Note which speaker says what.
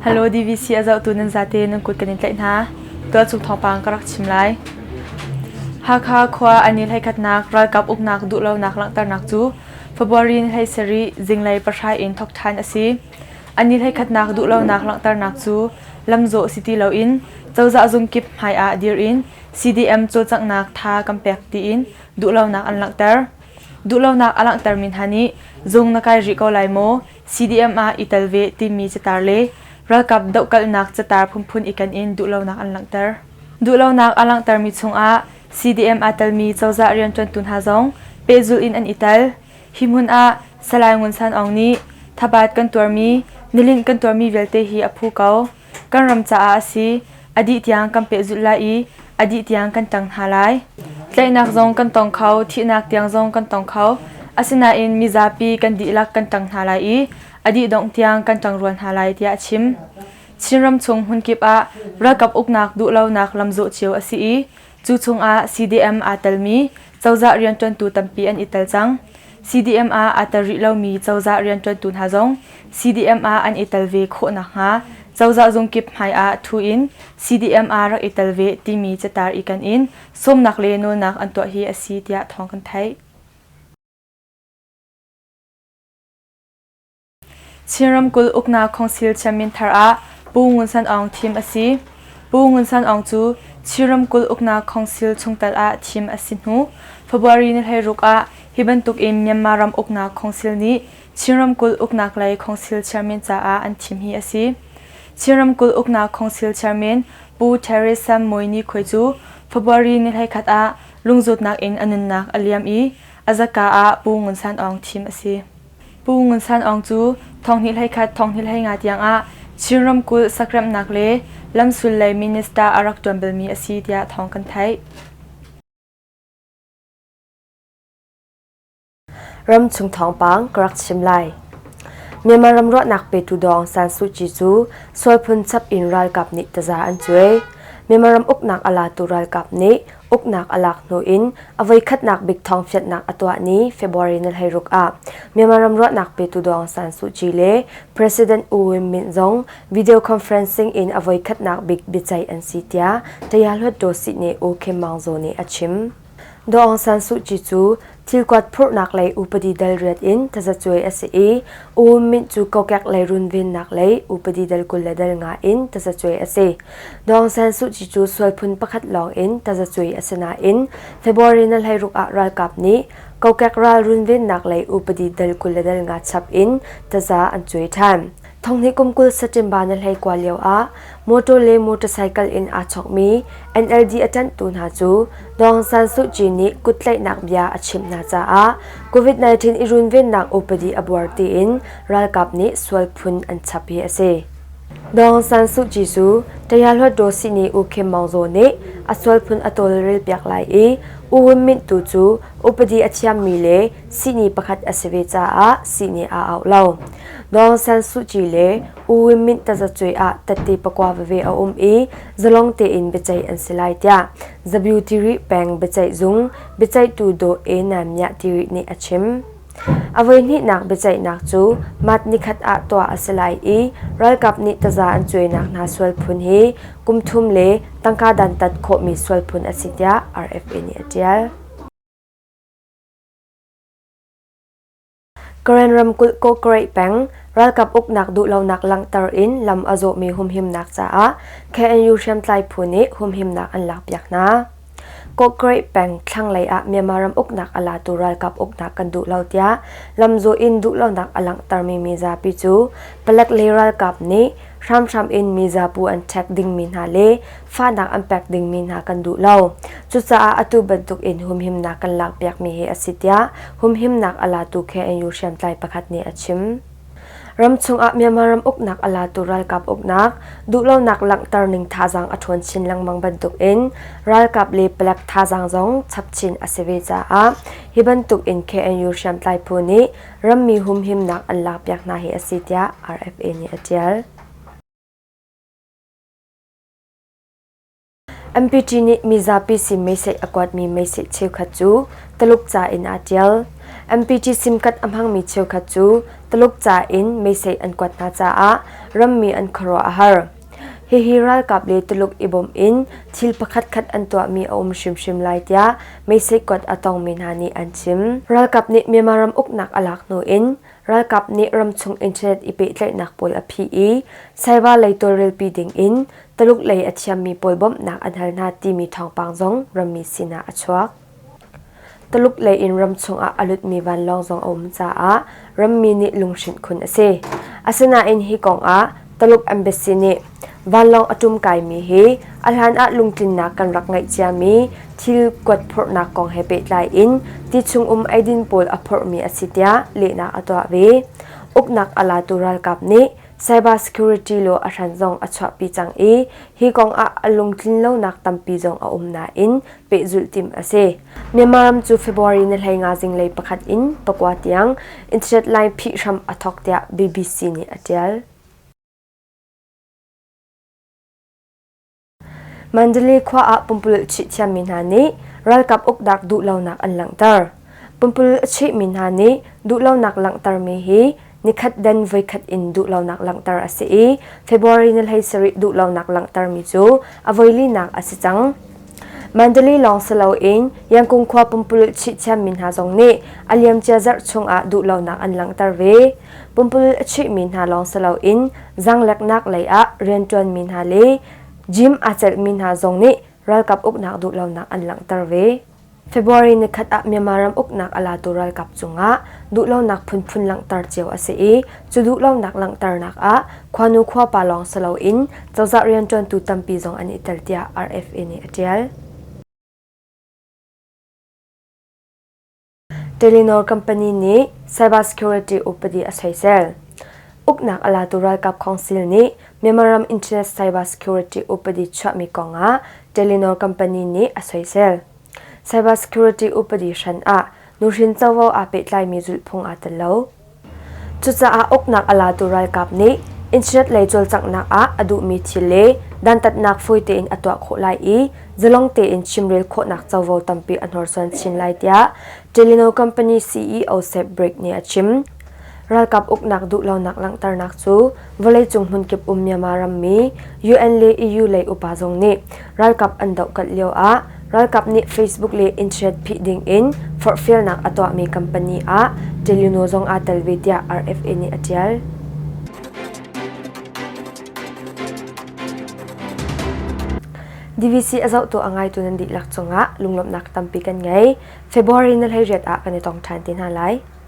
Speaker 1: Hello DVC a zohtu nan zate nan kut kan in tlaih hna. Tualchuk thawngpang ka rak chim lai. Hakha khua an i hlaikhlatnak ralkap uknak duhlonak langhternak cu February ni hlei sarih zinglei pahra in thawk ṭhan a si. An i hlaikhlatnak duhlonak langhternak cu lamzawh si ti loin cozah zung kip hmai ah dir in CDM cawlcanghnak tha kan pek tiin duhlonak an langhter. Duhlonak a langhtermi hna nih zung na kai rih ko lai maw? CDM ah i tel ve timi catar le ralkap dohkalhnak catar phunphun iken in duhlonak an langhter. Duhlonak a langhtermi chungah CDM aa telmi cozah rianṭuantu hna zong pehzulh in an i tel. Hi hmun ah Salai Ngun San Aung nih thabaat kan tuarmi, nilinh kan tuarmi vialte hi a phu ko. Kan ram caah a si. A dih tiang kan pehzulh lai i a dih tiang kan ṭang hna lai. Tlaihnak zong kan tong kho, thihnak tiang zong kan tong kho. Asinain mizapi kan dihlak kan ṭang hna lai i a dih dongh tiang kan ṭang rua hna lai tiah a chim. Chinram chung hmunkip ah ralkap uknak duhlonak lamzawh cio a si i Cu chungah CDM aa telmi cozah rianṭuantu tampi an i tel cang. CDM ah aa tel rih lomi cozah rianṭuantu hna zong CDM ah an i tel ve khawh nakhnga cozah zung kip hmaiah ṭhu in CDM ah rak i tel ve timi catar i kan in sawmnak le nawlnak an tuah hi a si tiah thawng kan theih. Chin ramkulh uknak khongsil chiamin thar ah Pu Ngun San Aung thim a si. Pu Ngun San Aung cu Chin ramkulh uknak khongsil chungtel ah thim a si hnu February ni hleiruk ah hi bantuk in Myanmar ram uknak khongsil nih Chin ramkulh uknak lei khongsil chairman caah an thim hi a si. Chin ramkulh uknak khongsil chairman Pu Theresa Mui Ni Khoi cu February ni hleikhat ah lungzutnak in a nunnak a liam i a zaka ah Pu Ngun San Aung thim a si. Pu Ngun San Aung cu thonghnih hleikhat thonghnih hleinga tiangah Chin ramkulh sakremhnak le lamsul lei minister a rak ṭuan balmi a si tiah thawng kan theih.
Speaker 2: Ramchung thawngpang ka rak chim lai. Myanmar ram ruahnak petu dawng San Suu Kyi cu sual phun chap in ralkap nih taza an cuai. Myanmar ram uknak a latu ralkap nih Uknak a lak hnu in a voikhatnak bik thawngfianhnak a tuah ni February ni hleiruk ah Myanmar ram ruahnak petu Dawng San Suu Kyi le President U Win Myint zong video conferencing in a voikhatnak bik biaceih an si tiah Taya Hluttaw Sihne U Kim Maung Zaw nih a chim. Dawng San Suu Kyi cu Thilkuat phurhnak lei upadi dalriat in tazacuai a si i U Myint cu kokek lei runvennak lei upadi dal kul le dal nga in tazacuai a si. Dawng San Suh Kyi cu sual phun pakhat lawng in tazacuai a si nain February na hleiruk ah ralkap nih kokek ral runvennak lei upadi dal kul le dal nga chap in taza an cuai ṭhan. Thongni kum kul September na hleikua lio ah motor le motorcycle in aa chawkmi NLD a ṭanhtu hna cu Dawng San Suu Kyi nih kuttlaihnak bia a chimh hna caah COVID-19 i runvennak upadi a buar tiin ralkap nih sual phun an chap hi a si. Dawng San Suu Kyi cu Taya Hluat Daw Sihni U Kim Maung Zaw nih a sual phun a tawlrel piak lai i U Win Myint tu cu upadi a thiammi le sihni pakhat a si ve caah sihni aa auh lo. Dawng San Suu Kyi le U Win Myint tazacuai ah tatte pakua veve a um i zalong tein biaceih an si lai tiah Zabu Tiri peng biaceih zung biaceihtu Daw E Nam Myah Tiri nih a chim. A voihnihnak biaceihnak cu mat nikhat ah tuah a si lai i ralkap nih taza an cuainak hna sual phun hi kum thum le tangka dantat khawhmi sual phun a si tiah RFA nih a ṭial. Karen ramkulh Kawkreih peng ralkap uknak duhlonak langhter in lam a zawhmi humhimnak caah KNU hriamtlai phu nih humhimnak an lakpiak hna. Kawkreih peng thlanglei ah Myanmar ram uknak a latu ralkap uknak kan duh lo tiah lamzawh in duhlonak a langhtermi mizapi cu palek le ralkap nih hramhram in mizapu an ṭhek dingmi hna le fahnak an pek dingmi hna kan duh lo. Cucaah atu bantuk in humhimnak kan lakpiakmi hi a si tiah humhimnak a latu KNU hriamtlai pakhat nih a chim. Ram chungah Myanmar ram uknak a latu ralkap uknak duhlonak langhter ning thazaang a ṭhawn chin lengmang bantuk in ralkap le palek thazaang zong chap chin a si ve caah hi bantuk in KNU hriamtlai phu nih rammi humhimnak an lakpiak hna hi a si tiah RFA nih a ṭial. MPT nih mizapi sim meisei a kuatmi meisei cheukhat cu Taluk ca in aa ṭial. MPT simkat a hmangmi cheukhat cu Taluk ca in meisei an kuat hna caah rammi an khuaruah a har. Hihi ralkap le Tuluk i bawmh in thil pakhatkhat an tuahmi a um hrimhrim lai tiah meisei kuat a tongmi hna nih an chim. Ralkap nih Myanmar ram uknak a lak hnu in Ralkap nih ramchung internet i pehtlaihnak puai a phih i Saiva lei tawlrelpi dingin Taluk lei a thiammi puai bawmhnak an hal hna timi thawngpang zong rammi sinah a chuak. Taluk lei in ramchung ah a lutmi vanlawng zong a um caah rammi nih lunghrinh khun a si. Asinain hi kongah Taluk embassy nih Vanlawng a ṭum kaimi hi a hlanah lungtlinnak kan rak ngeih ciami thil kuat phorhnak kong he pehtlai in ti chungum eidin pawl a phorhmi a si tiah lehnak a tuah ve. Uknak a latu ralkap nih cyber security law a hran zong a chuahpi cang i hi kong ah a lungtlin lonak tampi zong a um nain pehzulh timh a si. Myanmar ram cu February ni hleinga zinglei pakhat in pakua tiang internet line phih hram a thawk tiah BBC nih a ṭial. Mandalay khua ah pumpululh chuih thiammi hna nih ralkap uknak duhlonak an langhter. Pumpululh a chuihmi hna nih duhlonak langhtermi hi nikhat dan voikhat in duhlonak langhter a si i February ni hlei sarih duhlonak langhtermi cu a voilinak a si cang. Mandalay lawng si loin Yangkung khua pumpululh chuih thiammi hna zong nih a liamcia zarh chung ah duhlonak an langhter ve. Pumpululh a chuihmi hna lawng si loin zangleknak leiah rianṭuanmi hna le gym aa celhmi hna zong nih ralkap uknak duhlonak an langhter ve. February ni khat ah Myanmar ram uknak a latu ralkap cungah duhlonak phunphun langhter cio a si i cu duhlonak langhternak ah Khuanu khuapa lawng si loin cozah rianṭuantu tampi zong an i tel tiah RFA nih a ṭial. Telenor company nih cybersecurity upadi a soisel. Uknak a latu ralkap khawngsil nih Myanmar ram internet cybersecurity upadi chuahmi kongah Telenor company nih a soisel. Cybersecurity upadi hran ah nuhrin covo aa pehtlaimi zulhphung aa tel lo. Cucaah uknak a latu ralkap nih internet lei cawlcanghnak ah a duhmi thil le dantatnak fawi tein a tuah khawh lai i zalong tein chimrel khawhnak covo tampi a hnorsuan chin lai tiah Telino company CEO Sepp Blaik nih a chim. Ralkap uknak duhlonak langhternak cu Vawleicung hmunkip um Myanmar rammi UN le EU lei upa zong nih ralkap an dohkalh lio ah ralkap nih Facebook le internet phih ding in forhfialnak a tuahmi company ah Teluno zong aa tel ve tiah RFA nih a ṭial. DVC a zohtu a ngaitu nan dihlak cungah lunglawmhnak tampi kan ngei. February na hleiriat ah kan i tong ṭhan te hna lai.